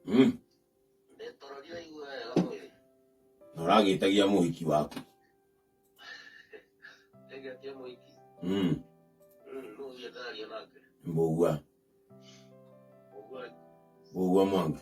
Mm. Na ũragĩtagia mũhiki waku. Mm. Mbũgua. Mbũgua mwanga.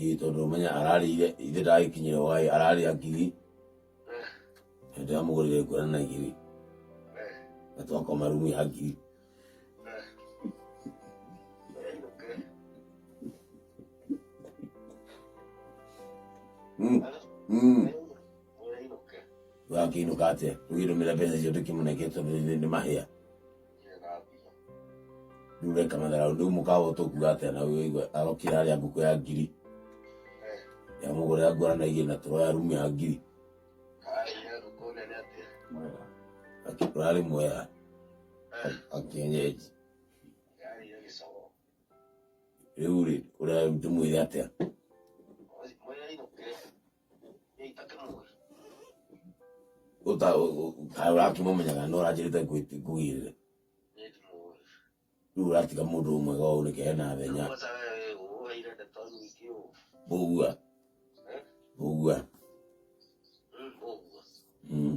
Ĩĩ tondũ ũmenya ararĩire ithe ndagĩkinyĩrwo gaĩ ararĩa ngiri na ndĩramũgũrĩre nguo na igiri na twakoma rumu ya ngiri Mm, mm. Wakĩinũka atĩa? Ũgĩtũmĩra mbeca icio ndĩkĩmũnengere tondũ nĩ mahĩa. rĩu we kamethera ũndũ ũmwe kaba ũtũkua atĩa na ũyũ igwe arokire arĩa ngũkũ ya ngiri yamũgũrĩra ngora na igĩrĩ na tũro ya rumu ya ngiri ũrarĩ mwega akĩenyeji rĩu rĩ ũrĩa tũmwĩre atĩa ũraki mũmenyaga no ũranjĩrĩte ngugĩrĩre rĩu ũratiga mũndũ ũmwe ga ũũ nĩke hena thenya bũgua bũgua Mm.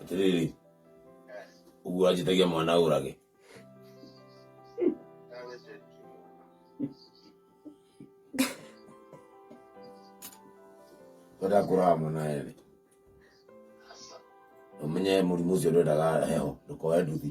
Atiriri. Uguo anjitagia mwana urage. Wenda kuraga mwana eri. Umenye murimu ucio ndwendaga heho, ndukoe nduthi.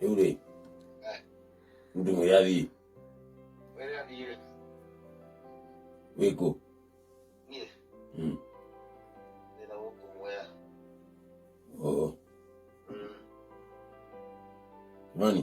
rĩu rĩ mũndũ mwĩrĩ athiĩ wĩkũ oo nani